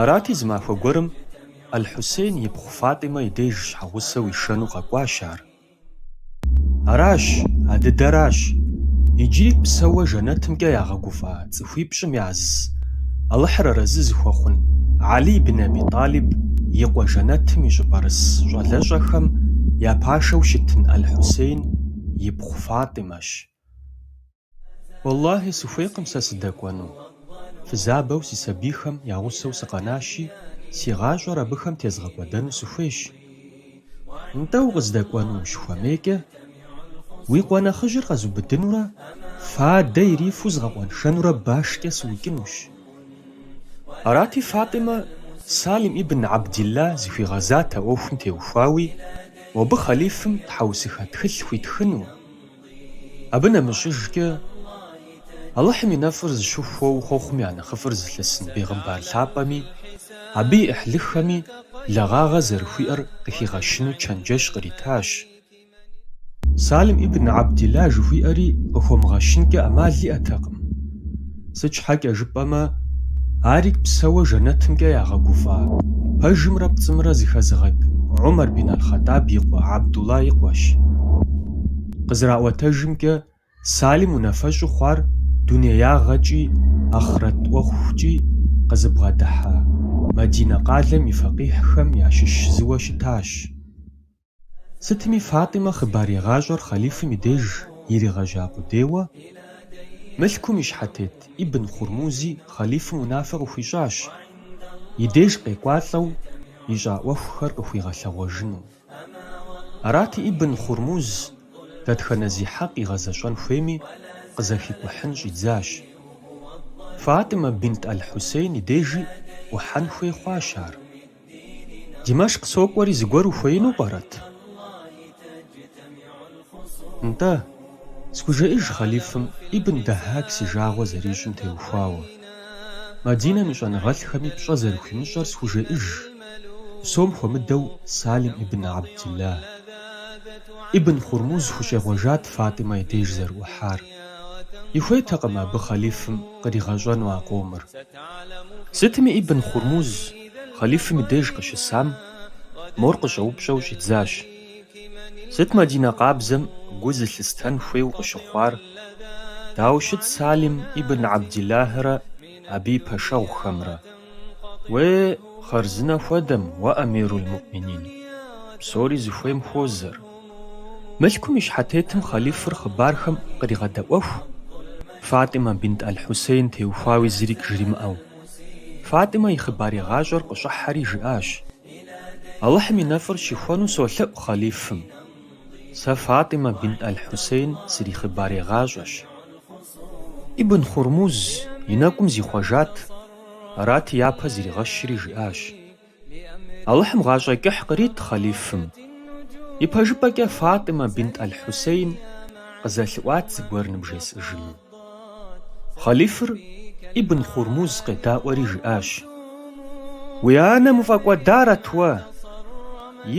Арати, зы махуэ гуэрым Аль-Хьусейн и пхъу Фатӏимэ и деж щхьэгъусэу ишэну къэкӏуащ ар. Аращ, а дыдэращ, иджыри псэуэ жэнэтымкӏэ ягъэгуфӏа цӏыхуипщӏым яз, Алыхьыр арэзы зыхуэхъун Алий ибн Аби Тӏалиб и къуэ жэнэтым и щӏыпӏэрыс щӏалэщӏэхэм я пашэу щытын Аль-Хьусейн и пхъу Фатӏимэщ. Уэллахьи, сыхуейкъым сэ сыдэкӏуэну. Фызабэу си сабийхэм я гъусэу сыкъэнащи, си гъащӏэр абыхэм тезгъэкӏуэдэну сыхуейщ. Нтӏэ, укъыздэкӏуэну ущыхуэмейкӏэ, уи къуэ нэхъыжьыр къэзубыдынурэ фадэ ирифу згъэкъуэншэнурэ башкӏэ сыукӏынущ. Арати, Фатӏимэ, Салим ибн Абдилла зыхуигъэзат а ӏуэхум теухуауи, мобы хъэлифым тхьэусыхэ тхылъ хуитхыну, Абы нэмыщӏыжкӏэ, Алыхьым и нэфӏыр зыщыхуэу хъуэхъум я нэхъыфӏыр зылъысын бегъымбар лъапӏэми, абы и ӏыхьлыхэми благъагъэ зэрыхуиӏэр къыхигъэщыну чэнджэщ къритащ. Салим ибн Абдилла жыхуиӏэри къыхуэмыгъэщынкӏэ ӏэмал иӏэтэкъым. Сыт щхьэкӏэ жыпӏэмэ, арик псэуэ жэнэтымкӏэ ягъэгуфӏа пэжымрэ пцӏымрэ зыхэзыгъэкӏ Умар бин аль-Хъаттӏаб и къуэ Абдулла и къуэщ. Къызэраӏуэтэжымкӏэ, Салим унафэщӏу хъуар дунеягъэкӏи ахърэт ӏуэхукӏи къызыбгъэдыхьа Мадинэ къалэм и фэкъихьхэм ящыщ зыуэ щытащ. Сытми Фатӏимэ хъыбарегъащӏэр хъалифым и деж иригъэжьа къудейуэ, мылъкум и щхьэтет Ибн Хурмузи хъалифым унафэ къыхуищӏащ, и деж къекӏуалӏэу ищӏа ӏуэхухэр къыхуигъэлъэгъуэжыну. Арати, Ибн Хурмуз дэтхэнэ зи хьэкъ игъэзэщӏэн хуейми, къызэхикӏухьын щӏидзащ. Фатӏимэ бинт аль-Хьусейн и дежи ӏухьэн хуей хъуащ ар. Димэшкъ сокӏуэри зыгуэр ухуеину пӏэрэт? Нтӏэ, схужеӏэж хъалифым Ибн Дэхьак си жагъуэ зэрищӏым теухуауэ. Мадинэм и щӏэныгъэлӏхэми пщӏэ зэрыхуимыщӏэр схужеӏэж, псом хуэмыдэу Салим ибн Абдилла. Ибн Хурмуз хущӏегъуэжат Фатӏимэ и деж зэрыӏухьар. Ихуейтэкъым абы хъалифым къригъэщӏэну а къомыр. Сытми Ибн Хурмуз Хъалифым и деж къыщысам, мор къыщӏэупщӏэу щӏидзащ, Сыт Мадинэ къабзэм гу зылъыстэн хуейуэ къыщыхъуар? Дауэ щыт Салим ибн Абдиллахьрэ абы и пэшэгъухэмрэ? Уей, хъарзынэ хуэдэм, уэ эмирул муӏминин, псори зыхуейм хуозэр. Мылъкум и щхьэтетым хъалифыр хъыбархэм къригъэдэӏуэху, Фатӏимэ бинт аль-Хьусейн теухуауи зырик жримыӏэу. Фатӏимэ и хъыбарегъащӏэр къыщӏыхьэри жиӏащ, Алыхьым и нэфӏыр щыхуэну солъэӏу хъалифым. Сэ Фатӏимэ бинт аль-Хьусейн срихъыбарегъащӏэщ. Ибн Хурмуз и нэкӏум зихъуэжат, арати япэ зригъэщри жиӏащ, Алыхьым гъащӏэ кӏыхь кърит хъалифым. Ипэжыпӏэкӏэ Фатӏимэ бинт аль-Хьусейн къызэлъыӏуат зыгуэр ныбжесӏыжыну. Хъалифыр Ибн Хурмуз къедаӏуэри жиӏащ, Уи анэм уфӏэкӏуэдарэт уэ?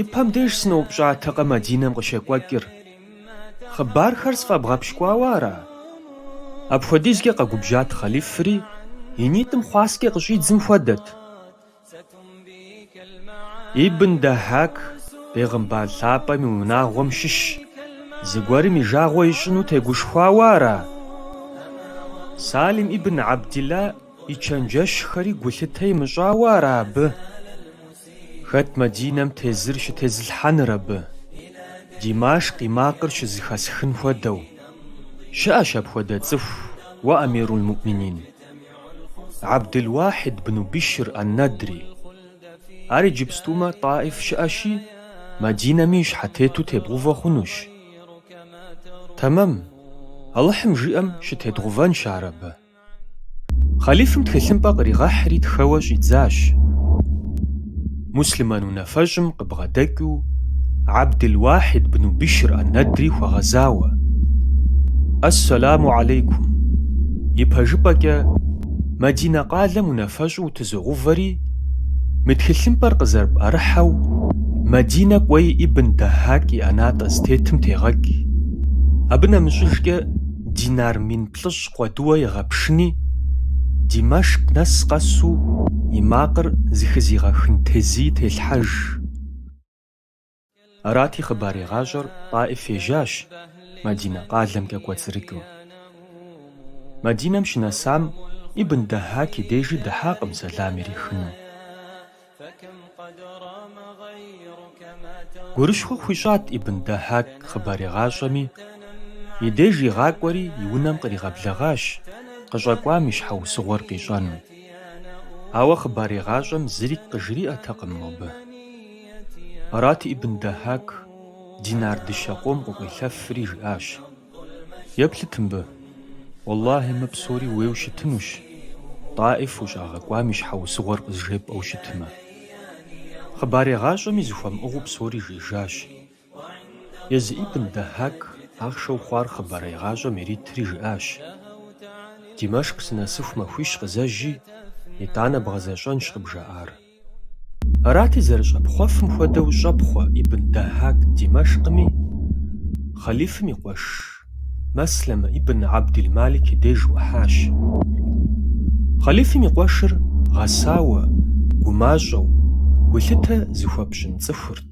Ипэм деж сыноупщӏатэкъэ Мадинэм къыщекӏуэкӏыр? Хъыбархэр сфӏэбгъэпщкӏуауэ ара? Апхуэдизкӏэ къэгубжьат хъалифри и нитӏым хъуаскӏэ къыщӏидзым хуэдэт. Ибн Дэхьак Бегъымбар Лъапӏэм и унагъуэм щыщ зыгуэрым и жагъуэ ищӏыну тегушхуауэ ара? Салим ибн Абдилла и чэнджэщхэри гулъытэ имыщӏауэ ара абы? Хэт Мадинэм тезыр щытезылъхьэныр абы, Димашк и макъыр щызыхэсхын хуэдэу? Щыӏэщ апхуэдэ цӏыху, уэ Амирул-Муъминин! Абдулуахьид бну Бишр ан-Надри. Ар иджыпстумэ Тӏаиф щыӏэщи, Мадинэм и щхьэтету тебгъувэ хъунущ. Тэмэм, Алыхьым жиӏэм щытедгъувэнщ ар абы. Хъалифым тхылъымпӏэ къригъэхьри тхэуэ щӏидзащ. Муслъымэн унафэщӏым Бгъэдэкӏыу Абдулуахьид бну Бишр ан-Надри хуэгъэзауэ, Ас-саламу алейкум! Ипэжыпӏэкӏэ, Мадинэ къалэм унафэщӏу утызогъувэри, мы тхылъымпӏэр къызэрыпӏэрыхьэу Мадинэ кӏуэи Ибн Дэхьак и ӏэнатӏэ зытетым тегъэкӏ, абы нэмыщӏыжкӏэ динар мин плӏыщӏ къуэдыуэ егъэпшыни, Димашк нэс къэсу и макъыр зыхызигъэхын тезыи телъхьэж. Арати, хъыбарегъащӏэр Тӏаиф ежьащ, Мадинэ къалэмкӏэ кӏуэцӏрыкӏыу. Мадинэм щынэсам, Ибн Дэхьак и дежи дыхьакъым сэлам ирихыну. Гурыщхъуэ хуищӏат Ибн Дэхьак хъыбарегъащӏэми, и деж игъакӏуэри и унэм къригъэблэгъащ къыщӏэкӏуам и щхьэусыгъуэр къищӏэну. Ауэ хъыбарегъащӏэм зырикӏ къыжриӏэтэкъым мобы. Арати Ибн Дэхьак динар дыщэ къом къыкъуелъэфри жиӏащ, Еплъыт мыбы. Уэллахьи, мы псори ууейуэ щытынущ, Тӏаиф ущӏагъэкӏуам и щхьэусыгъуэр къызжепӏэу щытмэ. Хъыбарегъащӏэми зыхуэмыӏыгъыу псори жиӏэжащ. Езы ибн Дахьак ахъшэу хъуар хъыбарегъащӏэм иритри жиӏащ, Димэшкъ сынэсыху махуищ къызэжьи, итӏанэ бгъэзэщӏэнщ къыбжаӏар. Арати, зэрыщӏэпхъуэфым хуэдэу щӏэпхъуэ Ибн Дахьак Димэшкъми, хъалифым и къуэш Маслэмэ ибн Абдил-Малик и деж ӏухьащ. Хъалифым и къуэшыр гъэсауэ, гумащӏэу, гулъытэ зыхуэпщӏын цӏыхурт.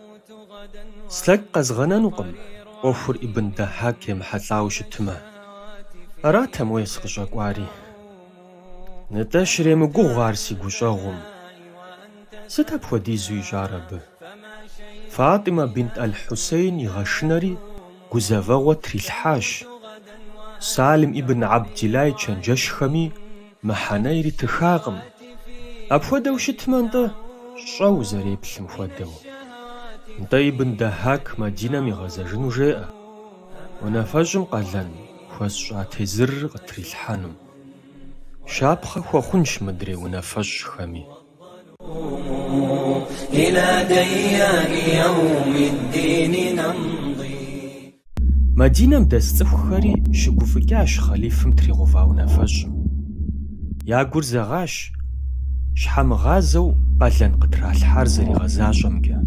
Слъэкӏ къэзгъэнэнукъым, ӏуэхур Ибн Дахьак емыхьэлӏауэ щытмэ. Аратэм, уей, сыкъыщӏэкӏуари. Нтӏэ, щремыгугъ ар си гущӏэгъум. Сыт апхуэдизу ищӏар абы? Фатӏимэ бинт Аль-Хьусейн игъэшынэри гузэвэгъуэ трилъхьащ, Салим Ибн Абдиллахь и чэнджэщхэми, Мыхьэнэ иритыхакъым. Апхуэдэу щытмэ, нтӏэ, щӏэ узэреплъым хуэдэу. Нтӏэ Ибн Дахьак Мадинэм игъэзэжыну жеӏэ, унафэщӏым къалэн хуэсщӏа тезырыр къытрилъхьэну. Щапхъэ хуэхъунщ мыдрей унафэщӏхэми. Мадинэм дэс цӏыхухэри щыгуфӏыкӏащ хъалифым тригъэува унафэщӏым. Я гур зэгъащ, щхьэмыгъазэу къалэн къытралъхьар зэригъэзащӏэмкӏэ.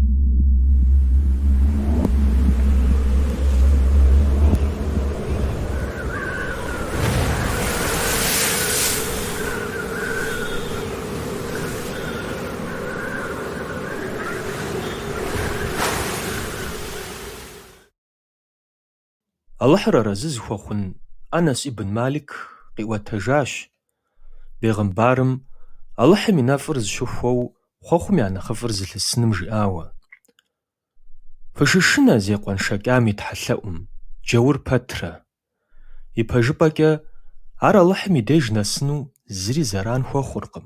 Алыхьыр арэзы зыхуэхъун Анэс ибн Малик къиӏуэтэжащ, Бегъымбарым, Алыхьым и нэфӏыр зыщыхуэу хъуэхъум я нэхъыфӏыр зылъысыным жиӏауэ, Фыщышынэ зекъуэншэкӏам и тхьэлъэӏум, джаур пэтрэ, Ипэжыпӏэкӏэ, ар Алыхьым и деж нэсыну зыри зэран хуэхъуркъым.